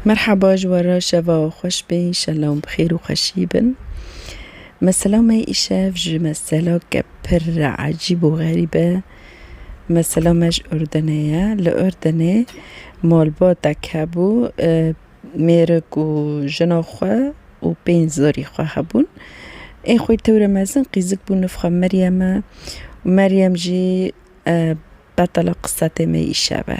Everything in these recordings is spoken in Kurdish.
Merhaba ji we re şeva xweş be înşellah bi xêr û xweşî bin. Mesela me îşev ji meselake pir ecîb û xerîb e. Mesela me ji Urdenê ye. Li Urdenê malbatek hebû mêrik û jina xwe û pênc zarî xwe hebûn. Ên xwe tewre mezin qîzik bû nifxe Meryem e. Meryem jî betala qisete me îşev e.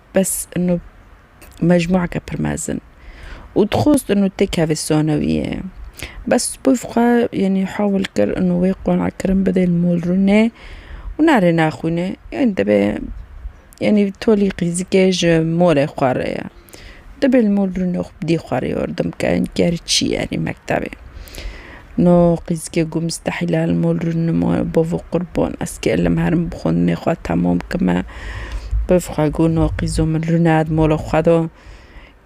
Bes inu mecmuake pir mezin. Û dixwest inu tê kevê sanewiyê. Bes pif xwe yanî hewil kir inu wê qonakkirin bidê li Molrûnê û nare naxwîne. Yanî dibe yanî tolî qîzikê ji molê xwe re ye. Dibe li Molrûnê xwe bidî xwe re yardim ke, ger çî yanî mektebê. No qîzgê ku mistehîl el mol rûnin ma bavo qurban ez ki elim herim bi xwendinê xwe temam kime bif xwe ku no qîzo min rûne di mola xwe de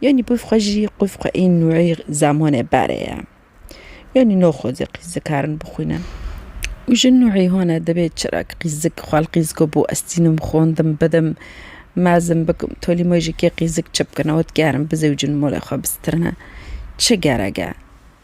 yanî bif xwe jî bif xwe ên nûeyî zemanê berê ye yanî no xwezî qîzik herin bixwînin û ji nûeyî hone divê çira ki qîzik xwe li qîzgo bo ez tînim xwendim bidim mezin bikim tolî me jî kê qîzik çi bikin ew dikerem bizewicin molê xwe bistirne çi gerek e.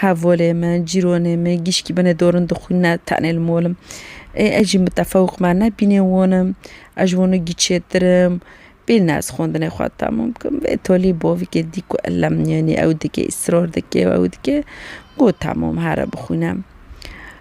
Hevolê me, cîronê me, gîşkî me ne dorin dixwîn ne tenê li mol im. Ê ez jî mitefewq me ne bînê won im. Ez ji wan re gîçêtir im. Bêyî ne ez xwendinê xwe temam bikim. Vê tolî bavîkê dît ku elem yanî ew dike, îsrar dike û ew dike. Got temam here bixwîne.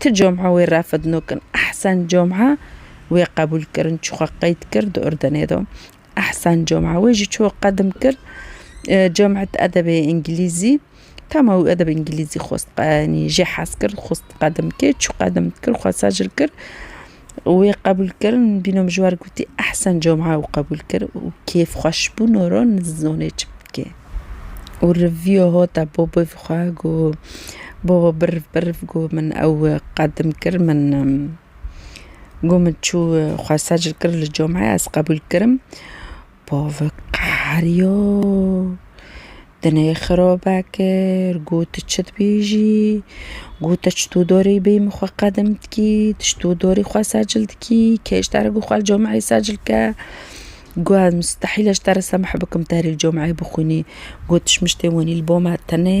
Ti comha wê refd nukin. Ehsen comha wê qebûl kirin çi xwe qeyd kir di Urdenê do. Ehsen comha wê jî ço qedim kir. Comhet edebê îngilîzî tama wî edeb îngilîzî xwest qe yanî jê hez kir xwest qedim kê çi qedim kir xwe sejl kir. Wê qebûl kir, bîno min ji wan re gotî ehsen cuma û qebûl kir û kêfxweşbûno re nizanê çi bike û rivîyo hate bo bi vî xwe got bo biriv biriv got min ew qedim kir min got min çû xwe secil kir li cumayê ez qebûl kirim Pavik qeheriya, dinê xirabe kir, got çi dibêjî, got te çi to darî bê min xwe qedim dikî, tu çi to darî xwe secil dikî, kê ji te re got xwe li cameyê secil ke, got ez mistehîle ji te re semeh bikim te herî li cameyê bixwînî, got tu ji min ji tê wenî li ba me tenê,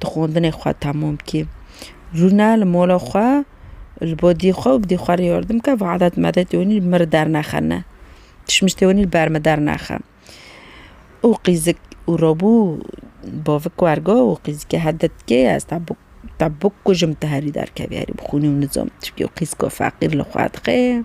di xwendinê xwe tamûm bikî. Rûne li mola xwe li bo dî xwe û bi dî xwe re yardim bike ve edet medet û min li dernexe ne. Tişmiştê min li ber min dernexe. Û qîzik û robû bavik wergo û qîzikê hev di dikê ye ez te bikujim tu herî derkevî herî bixûnî û nizam tu çi bikî û qîziko feqîr li xwe dixê.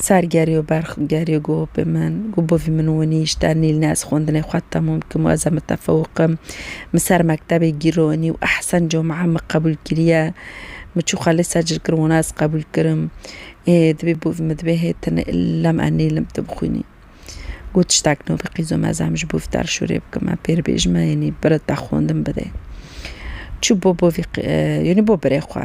Ser gerî û berx gerî got bi min, got bi vî min winî ji te nîl ne ez xwendinê xwe temûm dikim û ez e mitefewik im. Min ser mektebê gîronî û ehsen comean min qebûl kiriye. Min çû xelê ser cil kirin wana ez qebûl kirim. Ê dibê bi vî min dibê hê tu ne illem e nîlim tu bixwînî. Got tiştek nû bi qîzo me ez em ji bo vî te re şûrê bikim me pêr bêj me yanî bira te xwendin bidê. Çû bo bo vî qî yanî bo birê xwe.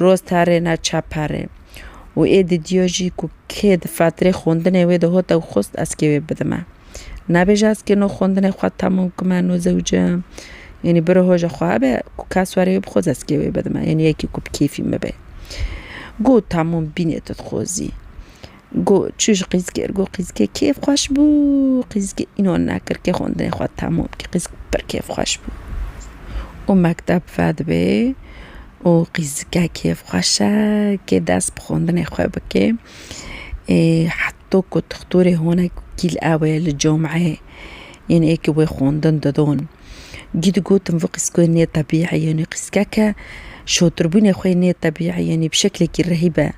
Roz tarê na çaparê û ê didiyo jî ku kê di fatirê xwendinê wê de hot ew xwest ez kê wê bidime. Nabêje ez kê no xwendinê xwe temam kime no zewce yanî biro hoja xwe hebe ku kes were wê bixwaz ez kê wê bidime yanî yekî ku bi kêfî min be. Got tamam bînê tu dixwazî. Got, Çû ji qîzikê ir got qîzikê kêf xweş bû. Qîzikê înan nekir kê xwendinê xwe temam kir. Qîzik pir kêf xweş bû û mekteb vedibê û qîzike kêf xweş e kê dest bi xwendinê xwe bike. Ê heto ku dixtorê hone kîl ewe li cameyê yên ê ku wê xwendin didon. Cî digotin vê qîzikê nêtebî'î yanî qîzikeke şotirbûnê xwe nêtebî'î yanî bi şeklekî rehî be.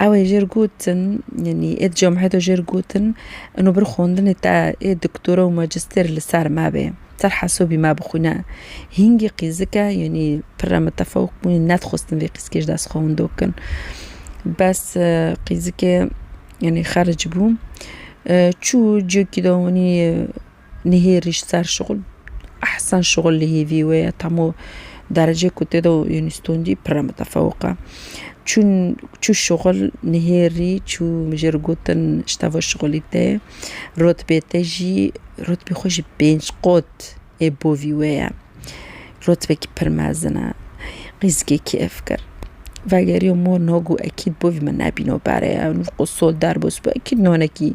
Ew ê jêr gotin, yanî ê di camiê de jêr gotin, ino bir xwendinê te ê doktora û majistêr li ser me bê, ser hesabî me bixwîne. Hîngî qîzike, yanî pir re mitefewik bûn, nedixwestin vê qîzkê ji dest xwe winda bikin. Bes qîzikê yanî xeric bû. Çû ciyekî de wanî Nihêrîş ser şixul ehsen şixul li hêvî wê ye tam û derecê ku tê de yanî stûndî pire mitefewik e. Çûn çû şixul nihêrî çû min jê re gotin ji teva şixulî tê rotbê te jî rotbê xwe ji pênc qat ê bovî wê ye. Rotbekî pir mezin e qîzikê kêf kir. Vegeriya mor niha got ekîd bovî min nebîna pere ye nû qo sol derbas bû ekîd nanekî.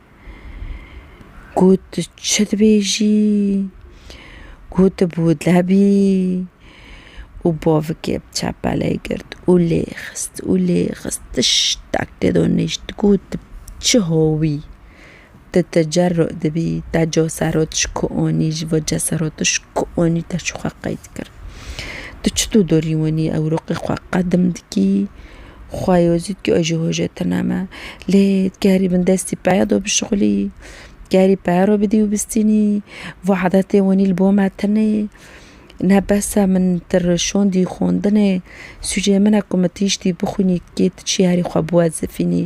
Ku tu çi dibêjî ku tu bi wile bî û bavikê bi çepelê girt û lê xist û lê xist tiştek tê de nişt ku tu çi hawî tu tecer dibî te ca ser û tişko anî ji bo ca ser û tişko anî te çi xwe qeyd kir tu çi tu dorî winî ewroqê xwe qedim dikî Xwayê wê zû dikê jî hojê tune me. Lê dikê herî bin destî peya do bişuxulî. Dikê herî peya ro bidî û bistînî. Vî adetê winî li bo me tune ye. Ne bes e min ti rişandî xwendinê. Sûcê min e ku min tiştî bixwînî dikê tu çî herî xwe biwezifînî.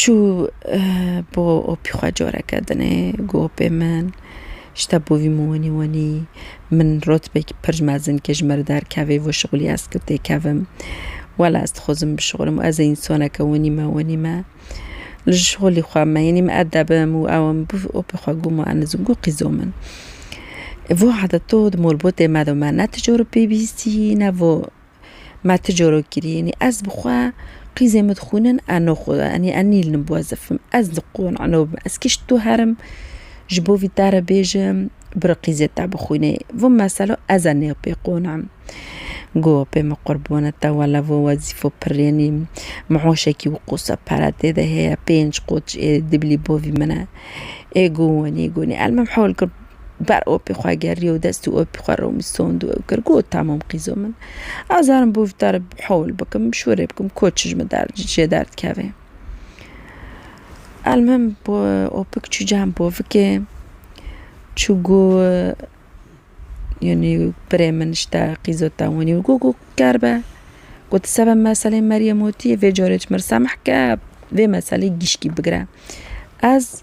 Çû bo opî xwe coreke din ê got pê min ji te bo vî min wenî wenî min rotbek pirc mezin ke ji me re derkevê vê şixulî ez tu têkevim. Wela ez dixwazim bişixulim û ez ê însaneke wenî me wenî me. Li ji şixulî xwe me yenî min edebim û ew em bû opê xwe got ma enê zû got qîzo min. Vê wexda to di malbatê me de me ne tu coribê bihîstî ne vo Ma ti coro kirî enî ez bi xwe qîzê min dixwînin eno xwe enî ez nîlnim bi wezifim ez li qon eno bim ez kî ji to herim ji bo vî te re bêjim biro qîzê te bixwînê vin mesela ez a nê pê qonim got pê min qurbone te wele vin wezîfo pirr enî mihoşekî û qosa pere tê de heye pênc qot ji êdî dibilî bo vî min e ê got wenî got nî elmim hewl kir Ber opê xwe geriye û dest û opê xwe romistond û ew kir, got, Tamam qîzo min. Ez zarim bi vî tarê hewl bikim, şûrê bikim ku çi ji min jê derdikeve. Elmihim opik çû cem povikê, çû got, Yanî birê min îşte qîzo te winî û got, Ker be. Got, Seba meselê Meryem û tî vê carê ji min re semeh ke, vê meselê gişkî bigire. Ez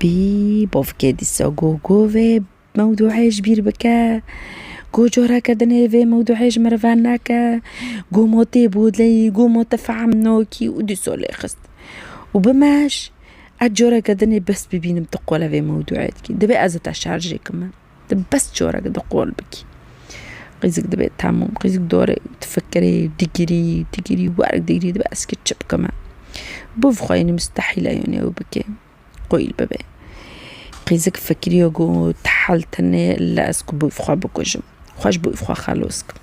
Bî bavkê dîsa got ku vê mewdûeyê ji bîr bike, ku careke din ê vê mewdûeyê ji merivan neke, ku ma tê bodleyî, ku ma te fehm nakî û dîsa lê xist. Û bi meş ez careke din ê bes bibînim tu qala vê mewdûeyê dikî. Divê ez li te şer jê kime. Tu bes corek di qol bikî. Qîzik dibe temûm, qîzik dore û tu fikirî, digirî, digirî, werek digirî dibe ez çi bikim e. Bûv xwe yênî mistehîl e yûnê ew bike, qoyîl bibe. Qîzik fikirî yo got, hal tune ille ez ku bûv xwe bikujim. Xweş bûv xwe xelos kirim.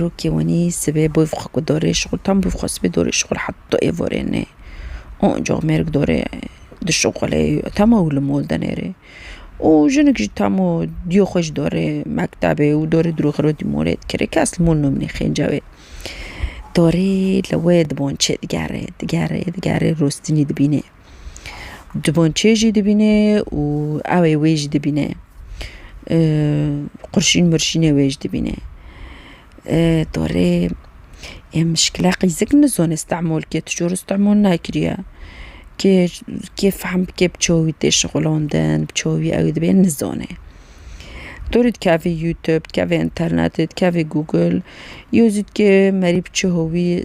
Rokê wenî sibê bûv xwe ku dorê şixul tam bûv xwe sibê dorê şixul hat to êvorê nê. Onco mêrik dorê di şixulê tamo û li mol de nêrê. Û jinik jî tamo diyo xwe ji dorê mektebê û dorê dûrxirê di molê dikirê kes li mol nûmnîxê cewê. Dorê li wê di bon çê digerê digerê digerê rostinî dibînê. Diboncê jî dibîne û ewê wê jî dibîne. Qurşîn murşînê wê jî dibîne. Torê em mişkila qîzik nizon istemol ke tu jor istemol nakiriye. Kê kê fehm bike bi çavî tê şixulondin, bi çavî ew dibê nizone. Torê dikevê youtube, dikevê internetê, dikevê google, yo zî dikê merî bi çi hovî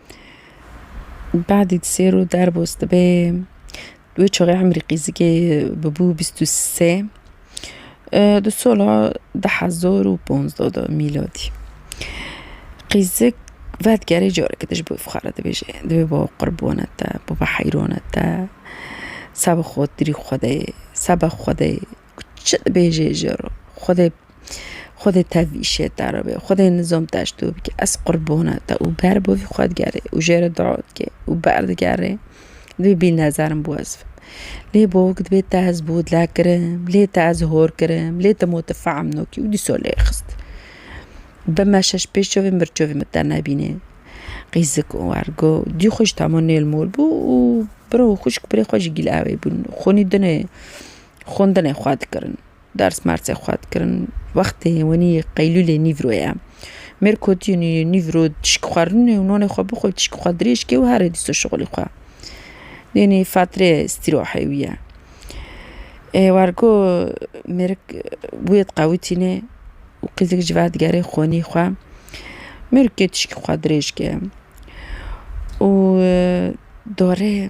Badî di sêr û derbas dibe wê çaxê emrî qîzikê bû bîst û sê di sola di hezar û panzda de mîladî qîzik vedigerê careke din ji bo fixare dibêje dibê bava qurbane te bava heyrane te seba xatirî xwedê seba xwedê çi dibêje ji re xwedê Xwedê te vî şêtara bê, Xwedê nizom te ji dû bike, ez qurbona te û ber bo vî xwe digerê û jê re dua dike û ber digerê divê bî nezerim bo ez fam. Lê bavok divê te ez bo dile kirim, lê te ez hor kirim, lê te ma tu fehm nakî û dîsa lê xist. Bi me şeş pêş çavên mir çavê min te nebîne. Qîzik û ergo dî xwe ji tahma nêl mol bû û bira û xwişk birê xwe ji gîl awê bûn. Xwunî dinê xwendinê xwe dikirin. Dersmercê xwe dikirin wextê wenî qeylûlê nîvro ye. Mêr kotî nîvro tişik xwarin û nonê xwe bixwe tişik xwe dirêj ke û herê dîsa şixulê xwe. Dênê fetrê îstîrohe wî ye. Ê wergo mêrik wê diqewitîne û qîzik ji ber digerê xwenî xwe. Mêrikê tişik xwe dirêj ke û dore.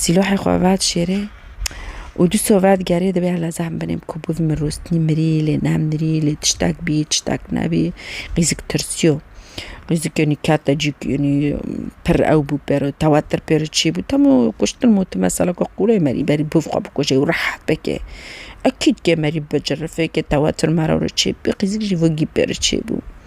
Sîlohê xwe vet şêrê û dûso vet gerê divê hele zam binê bi ku biv min rûstnî mirî lê ne mirî lê tiştek bî tiştek nebî qîzik tirsiyo. Qîzik yenî kete cî yenî pir ew bû pêro tewatir pêro çî bû temû kuştin mûtin mesela ku qûrê merî berî biv xwe bikuje û rehet bike. Ekîd ke merî bi cirifê ke tewatir mera were çê bû qîzik jî vingî pêro çê bû.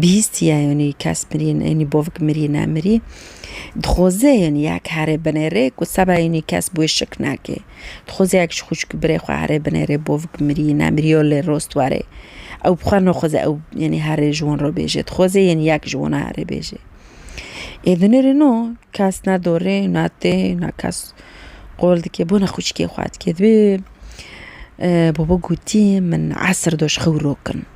Bihîst ye yanî kes mirî yanî bavik mirî ne mirî dixwaze yanî ya ke here bine rê ku seba yanî kes bi wê şik nake. Dixwaze ya ke ji xwişk birê xwe here bine rê bavik mirî ne mirî yo lê rost warê ew bi xwe naxwaze ew yanî herê ji wan re bêje dixwaze yanî ya ke ji wan re herê bêje. Ê binêrê no kes ne dorê ne tê ne kes qol dike bona xwişkê xwe dike dibê baba gotî min esir do ji xewiro kin.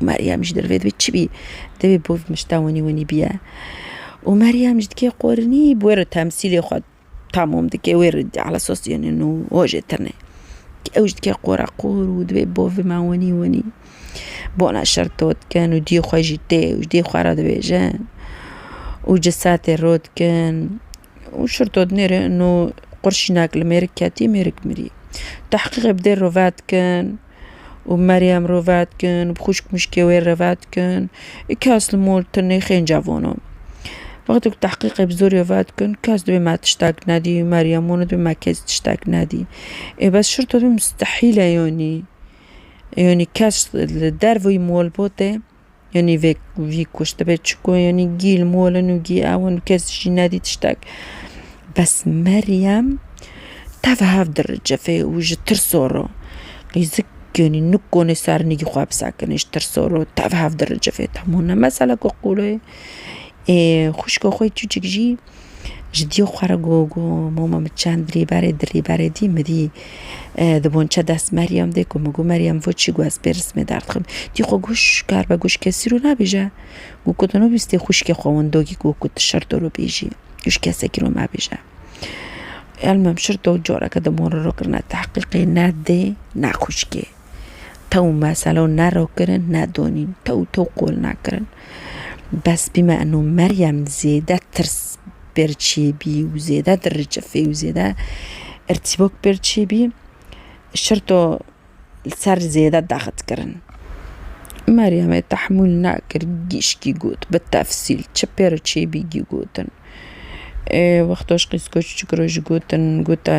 Meryem jî derve dibe çi bî divê bo vê mişta winî winî biye û Meryem jî dike qorinî bi wê re temsîlê xwe tamam dike wê re ala sos yenin û hojê tune. Ew jî dike qora qor û divê bo vê me winî winî bona şer to dikin û diyê xwe jî tê û ji dê xwe re dibêjin û cisetê ro dikin û şir to dinê re û qurşînek li mêrik ketî mêrik mirî. Tehqîqê bi dê re ve dikin. û Meryem ro vedikin, bi xwişk mişkê wê re vedikin, iki esli mol tu nêxên cevano. Wextê ku tehqîqê bi zorê vedikin, kes dibê me tiştek nedî, Meryem wan dibê me kes tiştek nedî. Ê bes şirto dibê mustehîle yanî. Yanî kes li derveyî malbatê. Yanî vê vî kuş dibe çiko yanî gî li mol in û gî ew in û kes jî nedî tiştek. Bes Meryem tev hev diricifê û ji tirso re qîzik yanî nikonê sernîgî xwe bisekinê ji tirso re tev hev diricifê. Tam hûn ne mesela ku qûr e. Ê xwişka xwe yê çûçik jî Ji dî xwe re got, got, Moma min çend dirî berê, dirî berê dî min dî di bonçe dest Meryem dê ku min got, Meryem vo çi got ez pê rismê derdixim. Dî xwe got, Şş, kar be got ji kesî rû nabêje. Got, Ku tu nabîstî xwişkê xwe wendo kî got ku tu şir tu rû bêjî. Got, Ji kesekî rû mebêje. Elmam şir dog careke di mon re rû kirine. Tehqîqê ne dê ne xwişkê. Tew meselo ne ro kirin ne donîn. Tew tew qol nakirin. Bes bîme eno Meryem zêde tirs pêr çêbî û zêde dirriçifê û zêde irtîbok pêr çêbî şirto li ser zêde daxit kirin. Meryemê tehmûl nekir gîşkî got bi tefsîl çi pê re çêbî gî gotin. Wextoş qîzkoç ji gotin gote.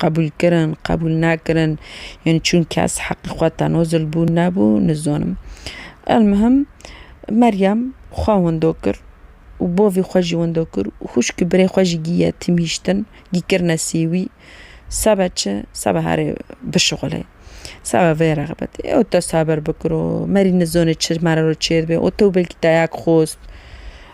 qebûlkirin, qebûlnekirin yên çûn kes heqê xwe tenozil bû nebû nizanim. Elmuhim Meryem xwe wendo kir û bavê xwe jî wendo kir û xwişkê birê xwe jî gî yetîm hiştin, gî kirine sêwî sebe çi sebe herê bişixulê. Sebe vê re xebitî ew te sebir bikiro, merî nizanê çi mere ro çêdibe û to belkî te yek xwest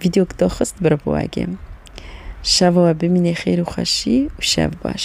Vîdyok daxist bravo Ege. Şeva we bimînê xêr û xweşî û şev baş.